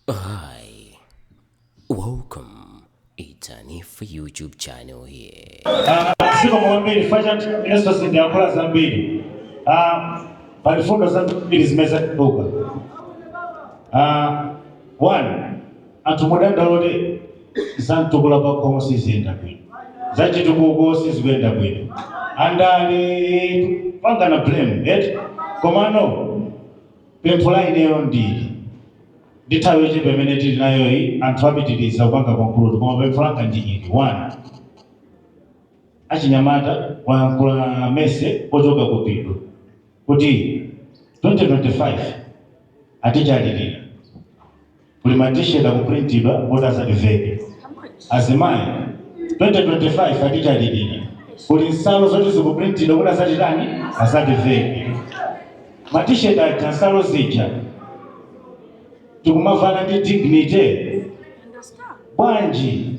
Hi, welcome. It's an if YouTube channel here. Ah, Siko mwambiri fashion Yesu sindiakula zambiri Ah, palifundo zambiri zimeza kuduka Ah, one anthu mukudandaula za Mtukula Pakhomo sizikuyenda bwino zachitukuko sizikuyenda bwino andale kupangana blame eti komano Pempho la ineyo ndi ili, ndi nthawi yochepa imene tili nayoyi, anthu apitirize kupanga conclude koma pempho langa ndi ili, 1. Achinyamata tayankhula muja zochoka ku phindu kuti 2025 atitani alilira. kuli ma t-shirt akuprintidwa kuti azativeke azimayi 2025 atitalilira kuli nsalu zoti zikuprintidwa kuti azatitani azativeke ma t-shirt aja nsalu zija tikumavala nde dignity bwanji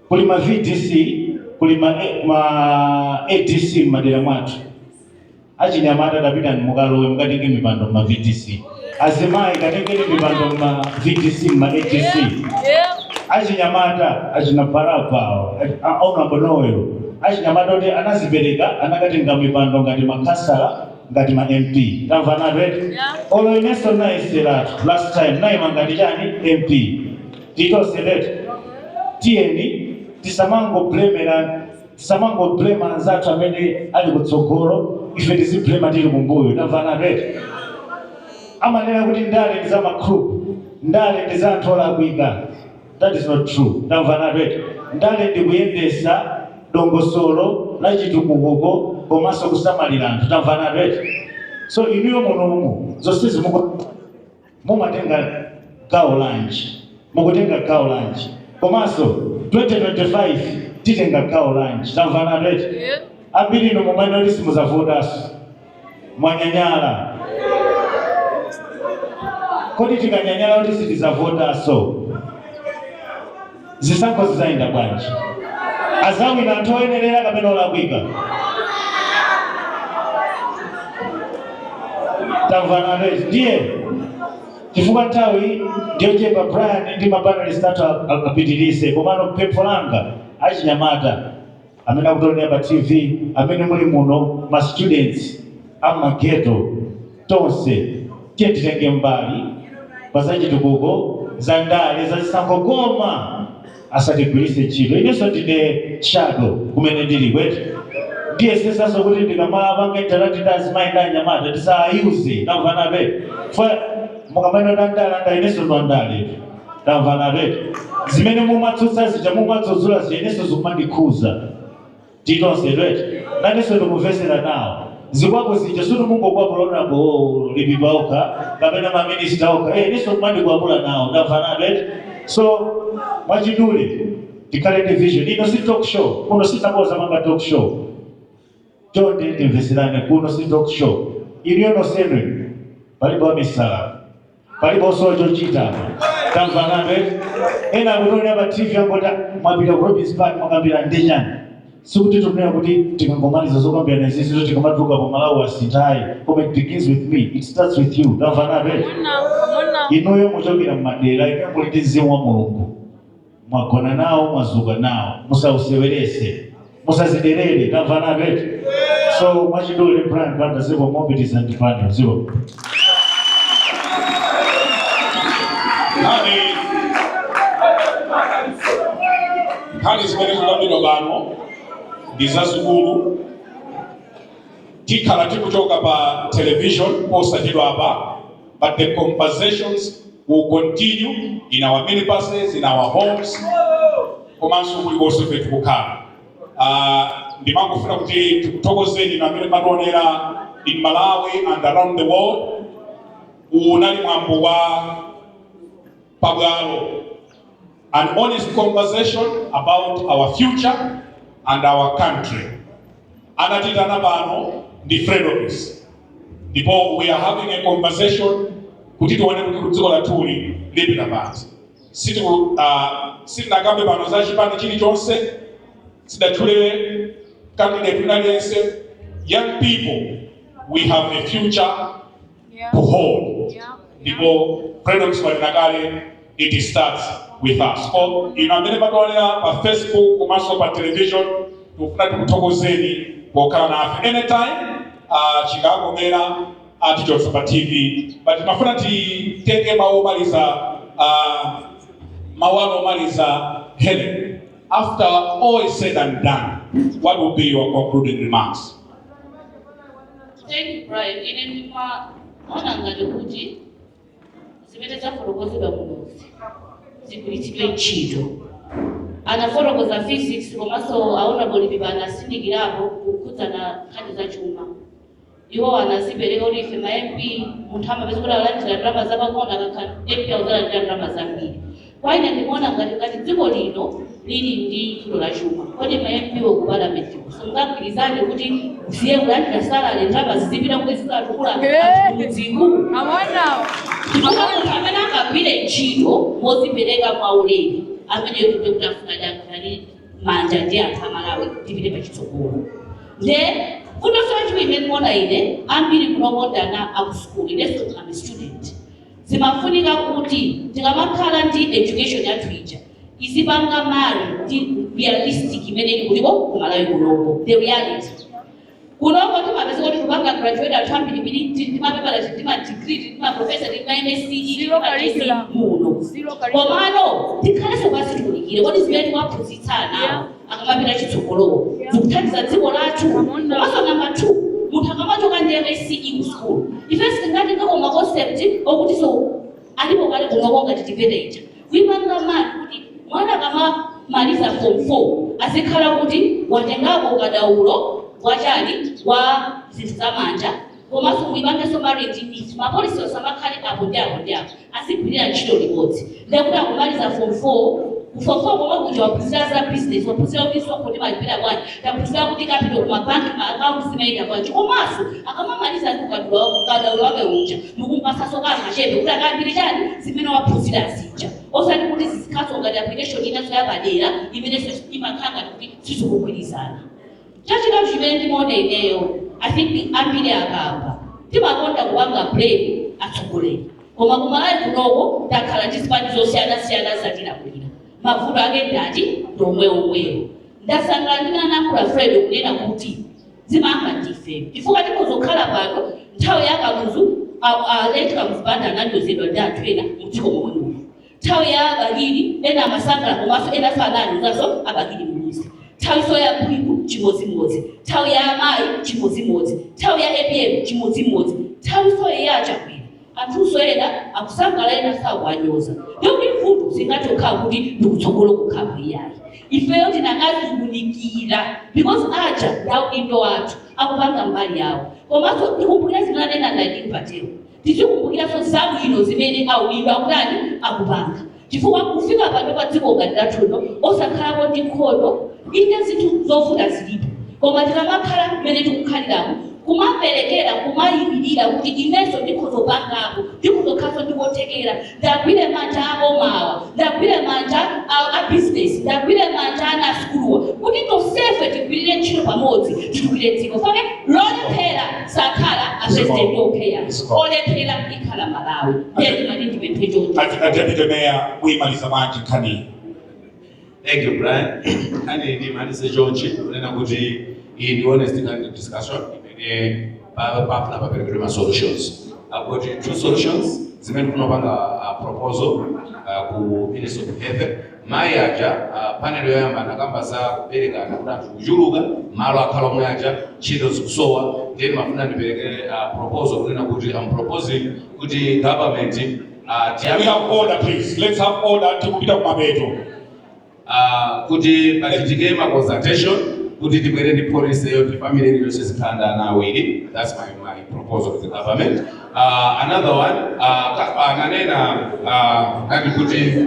kuli ma vdc kuli ma, ma adc m'madera mwathu Achinyamata tapitani mukalowe mukatenge mipando mma VDC. Azimayi katengeni mipando mma VDC mma ADC. Achinyamata achina Baraba awo, achi- a- Honorable Noel, achinyamata oti anazipereka akatenge mipando ngati makhansala ngati ma MP. Tamvanatu eti? Olo inenso nayesatu last time ndaima ngati chani MP. Tili tonse eti? Tiyeni tisamangoblema Tisamangoblema anzathu amene ali kutsogolo ife tiziblema tili kumbuyo tamvanatu eti amanena kuti ndale ndi za ma crook ndale ndi za anthu olakwika that is not true tamvanatu eti ndale ndi kuyendesa dongosolo la chitukuko komanso kusamalira anthu tamvanatu eti so inuyo munomo zonsezi muku mumatenga gawo lanji? Mukutenga gawo lanji? Komanso 2025 titenga gawo lanji? Tamvanatu eti? Ambiri inu mumanena kuti simuzavotaso. Mwanyanyala. Kodi tikanyanyala kuti sitizavotaso? Zisankho zizayenda bwanji? Azawina anthu oyenelera kapena olakwika? Tamvanatu eti ndiye chifukwa nthawi ndiyochepa Brian ndi ma panelist athu apitilize komano pempho langa achinyamata amene akutionera pa tv amene muli muno ma students amageto tonse tiyeni titenge mbali pa zachitukuko za ndale za zisankho koma asatigwiritse ntchito inenso ndine shadow kumene ndili kwete ndiyesesanso kuti ndikamapanga interact ndi azimayi ndi anyamata tisayuze tamvana eti fa mukamene ndandala ndiye inenso ndi wandale tamvana eti zimene mumatsutsa zija mumadzudzula zija inenso zikumandikhudza tili tonse eti nanenso ndikumvetsera nawo zikwapu zija sikuti mungokwapula ma MP okha kapena maminista okha eh inenso kumandikwapula nawo tamvana eti so mwachidule tikhale ndi vision ino si talk show kuno sitidzapanga talk show chonde timvetserane kuno si talk show inuyo nonsenu palibe wamisala palibe osowa chochita tamvana eti ena akutonera pa tv angoti mwapita ku robins park mwakambirana chani sikuti tikunena kuti tikangomaliza zokambirana izizi ndiye tikamatuluka apa malawi asintha ayi koma it begins with me it starts with you tamvana eti inuyo mumachokera mmadera inuyo muli ndi mzimu wa mulungu Mwagona nawo, mwadzuka nawo, musauseweretse, musadziderere. Tamvana eti. So mwachidule Brian Banda ziko mopitiza ndi Banda ziko. Nkhani nkhani zimene zikambidwa pano ndi zazikulu. Tikhala tikuchoka pa television posachedwa apa but the conversations will continue in our minibuses, in our homes, komanso kulikonse pamene tikukhala. Uh, ndimafuna kuti tikuthokozeni inu amene mumationera in Malawi and around the world. Unali mwambo wa pabwalo an honest conversation about our future and our country anatiitana pano ndi fredokiss ndipo we are having a conversation kuti tione kuti dziko lathuli lipita patsogolo Sitiku- ah, sitinakambe pano za chipani chilichonse sitinatchule candidate wina aliyense young people we have a future yeah. to hold yeah. ndipo fredokiss wanena kale it starts with us kwa inu amene mumationera pa facebook komanso pa television tikufuna tikuthokozeni pokhala nafe anytime uh, chikakomera tichoka pa tv but ndimafuna titenge mawu omaliza uh, mawu anu omaliza helen after all is said and done what would be your concluding remarks Thank Brian. Ine ndimaona ngati kuti zimene zafotokozedwa kunozi zigwiritsidwe ntchito. Anafotokoza physics komanso aona polipipa anatsindikirapo kukhudzana nkhani za chuma. Iwo anadzipereka kuti ife ma MP munthu amapeza kuti alandira ndalama zapang'ono akakhala MP akuzalandira ndalama zambiri. Kwa ine ndimaona ngati ngati dziko lino lili ndi vuto la chuma, kodi ma MP wo ku Parliament ko simungagwirizane kuti musiye kulandira salary ndalama zizipita kuti zikatukule anthu kumudziku? Chifukwa munthu amene angagwire ntchito modzipereka mwaulere ameneyo ndi kuti afuna tigwirane manja ndi anthu a ku Malawi tipite pachitsogolo. Nde vuto silo chimene ndimaona ine ambiri munomo ndi ana a ku school inenso am a student. Zimafunika kuti tikamakhala ndi education yathu ija izipanga marry ndi realistic imene ili kuliko ku Malawi kunoko, the reality. Kunoko timapeza kuti tikupanga graduate anthu ambirimbiri tili ndi mapepala tili ndi ma degree tili ndi ma professor tili ndi ma MSc muno. Komano tikhalenso pansi tiunikire kodi zimene tiwaphunzitsa anawo akamapita chitsogolowo zikuthandiza dziko lathu komanso namba 2 munthu akamachoka ndi msce ku school ife sitingatengeko ma concept okutiso alipo kale kunoko ngati TEVETA ija kuipanga marry kuti mwana akamamaliza form 4 azikhala kuti watengako ukadaulo wachani wa zinthu zamanja komanso muipangenso marry zija ma policy asamakhale apo ndi apo ndi apo azigwirira ntchito limodzi ndekuti akumaliza form 4 form 4 komwe kuja waphunzira za business waphunzira kuti msonkho ndimalipira bwanji waphunzira kuti kupita ku mabanki ma akaunti zimayenda bwanji komanso akamamaliza ndi ukadaulo wake ukadaulo wake uja ndikumpasaso kangachepe kuti akayambire chani zimene waphunzira zija osati kuti zizikhalaso ngati application inaso yapadera imenenso imakhala ngati kuti sizikugwirizana Chachitatu chimene ndimaona ineyo I think ambiri akamba timakonda kupanga blame atsogoleri koma ku Malawi kunoko takhala ndi zipani zosiyana siyana zatilamulira mavuto ake ndi ati ndi omwe omwewo ndasangala ndi mmene anayankhulira Fred kunena kuti zimayamba ndife chifukwa tikudzakhala pano nthawi ya kamuzu a- a- late kamuzu banda ananyozedwa ndi anthu ena mu dziko momwe muno Nthawi ya a Bakili ena amasangala komaso ena anawanyozaso a Bakili Muluzi nthawiso ya bingu chimodzimodzi nthawi ya amayi chimodzimodzi nthawi ya APM chimodzimodzi nthawiso ya a Chakwera anthuso ena akusangala ena akuwanyoza ndikuti vuto silingangokhala kuti ndikutsogolo kokhako iyayi ifeyo tikanadziunikira because aja ndi adindo athu akupanga mbali yawo komaso ndikumbukira zimene anena adini patero Tikumbukirenso zabwino zimene aulira akutani, akupanga. Chifukwa kufika pano pa dziko ngati lathuno osakhalako ndi nkhondo, inde zinthu zovuta zilipo koma tikamakhala mmene tikukhaliramu, kumaperekera, kumayimirira kuti inenso ndikhoza kupangapo, ndikhoza kukhalanso ndi kuthekera. ndagwire manja abomawa ndagwire manja a, a business ndagwire manja ana asukuluwa kuti tonsefe tigwirire ntchito pamodzi titukire dziko 'fukwa lolephera sakhala apresident okha aa olephera ikhala malawi nde ndimati ndipemphe choncho Ad- Ad- Deputy Mayor, muyimalize manje nkhani. Thank you, Brian. Kani ndimalize chonchi, kunena kuti iyi ndi honest kind of discussion imene pa- pakufuna paperekedwe ma solutions. I've got two solutions zimene ndikupanga a proposal uh, ku Ministry of Health. Mayi aja uh, panel yoyamba anakamba za kuberekana kuti anthu akuchuluka malo akhala omwe aja ntchito zikusowa then ndimafuna ndiperekere uh, proposal kunena kuti I'm proposing kuti government Ah, Can we have order, please. Let's have order. Tikupita kumapeto. ah, kuti pachitike ma consultation kuti tibwere ndi policy yoti family iliyonse izikhala ndi ana awiri that's my, my proposal to the government uh, another one uh, ananena uh, akuti kuti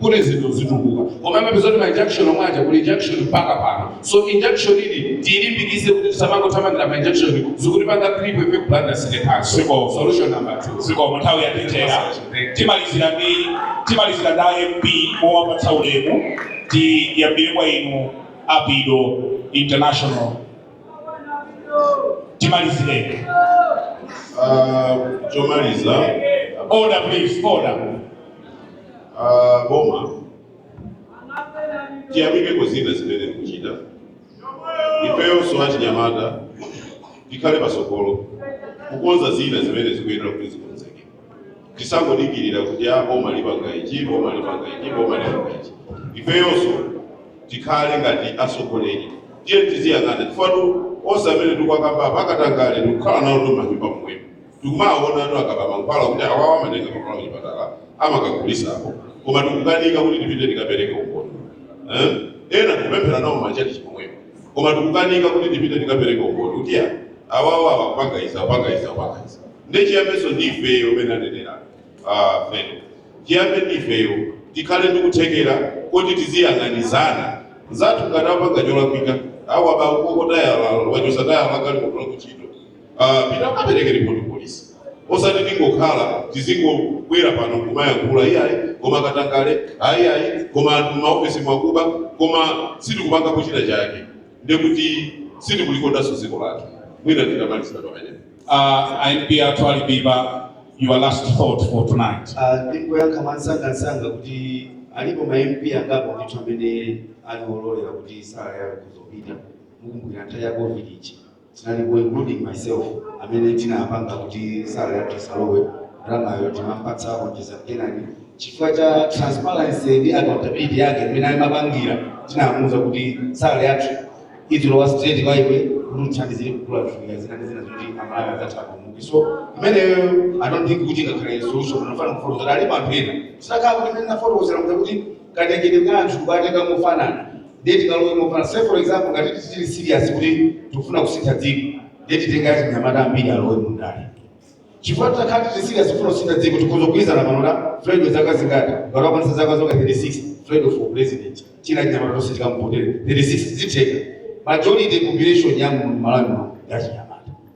kuti zinthu zitukuka koma mupeza kuti ma injunction omwe aja kuli injunction mpaka pano so injunction iyi tiyilimbikise kuti tisamangothamangira ma injunction zikutipanga cripple ife kupanga sine pansi Siko. solution number 2 zikomo nthawi yatithera timalizira ndi timalizira ndi a MP powapatsa ulemu tiyambira kwa inu apido international timalizireni Ah, chomaliza order please order Ah, boma tiyamikeko zina zimene likuchita ifeyonso achinyamata tikhale pasogolo kukonza zina zimene zikuyenera kuti zikonzeke tisangodikirira kuti aa boma lipanga ichi boma lipanga ichi boma lipanga ichi ifeyonso tikhale ngati atsogoleri tiye tiziyang'ana chifukwa onse amene tikuwakamba apa akatangale tikukhala nawo m'manyumba momwemo Tikumawaona anthu akuba mankhwala kuti awawa amatenga mankhwala kuchipatala amakagulisako koma tikukanika kuti tipite tikapereke umboni eh? ena tikupemphera nawo m'machalichi momwemo koma tikukanika kuti tipite tikapereke umboni kuti ya awawa awapanga izi awapanga izi awapanga izi nde chiyambenso ndi ifeyo mmene anenera ah, feno chiyambe ndi ifeyo tikhale ndi kuthekera koti tiziyang'ana anzathu ngati apanga cholakwika awa bakokotayala wachosatayala kali kutola kuchita Ah, pita ukapereke ripoti ku polisi osati tingokhala tizingobwera pano kumayankhula iyayi koma katangale ayiyayi koma anthu mmaofesi mwakuba koma sitikupanga kuchita kwake ndekuti sitikulikondanso dziko lathu mwina ndingomalizira pamenepo Uh, MP Atwalibeba, your last thought for tonight. Ah, ndingoyankha mwansangansanga kuti alipo ma MP angapo ndithu amene ali ololera kuti salary yawo izipita mukumbukira nthawi ya covid ija Tinalipo including myself amene tinapanga kuti salary yathu isalowe, ndalamayo timampatsa onjeza Kenani chifukwa cha transparency ndi accountability yake mmene amapangira tinamuuza kuti salary yathu izilowa straight kwa iwe kuti uthandizire kugula zofunika zina ndi zina zoti amalawi adzathandizike so imeneyo i don't think kuti ingakhale solution ndimafuna kufotokozera alipo anthu ena tinakhala kuti mmene ndafotokozera kuti katengedwe ka anthu kuwatenga mofanana ndiye tikalowe mofanana say for example ngati titati tili serious kuti tikufuna kusintha dziko ndiye titenge achinyamata ambiri alowe mu ndale chifukwa titakhala tili serious kufuna kusintha dziko tikhoza kugwirizana pano na Fred wa zaka zingati ngati akwanitsa zaka zonga 36 Fred for president achinyamata tonse tikamuvotera 36 zitheka majority population ya mu Malawi muno ndi achinyamata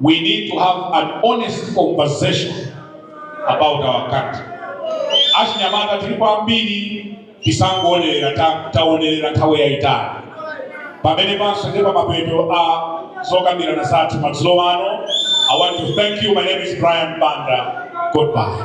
We need to have an honest conversation about our country. Achinyamata tilipo ambiri tisangoonelera ta- taonelera nthawi yayitali pamenepanso ndi pamapeto a zokambirana zathu madzulo ano i want to thank you my name is brian banda goodbye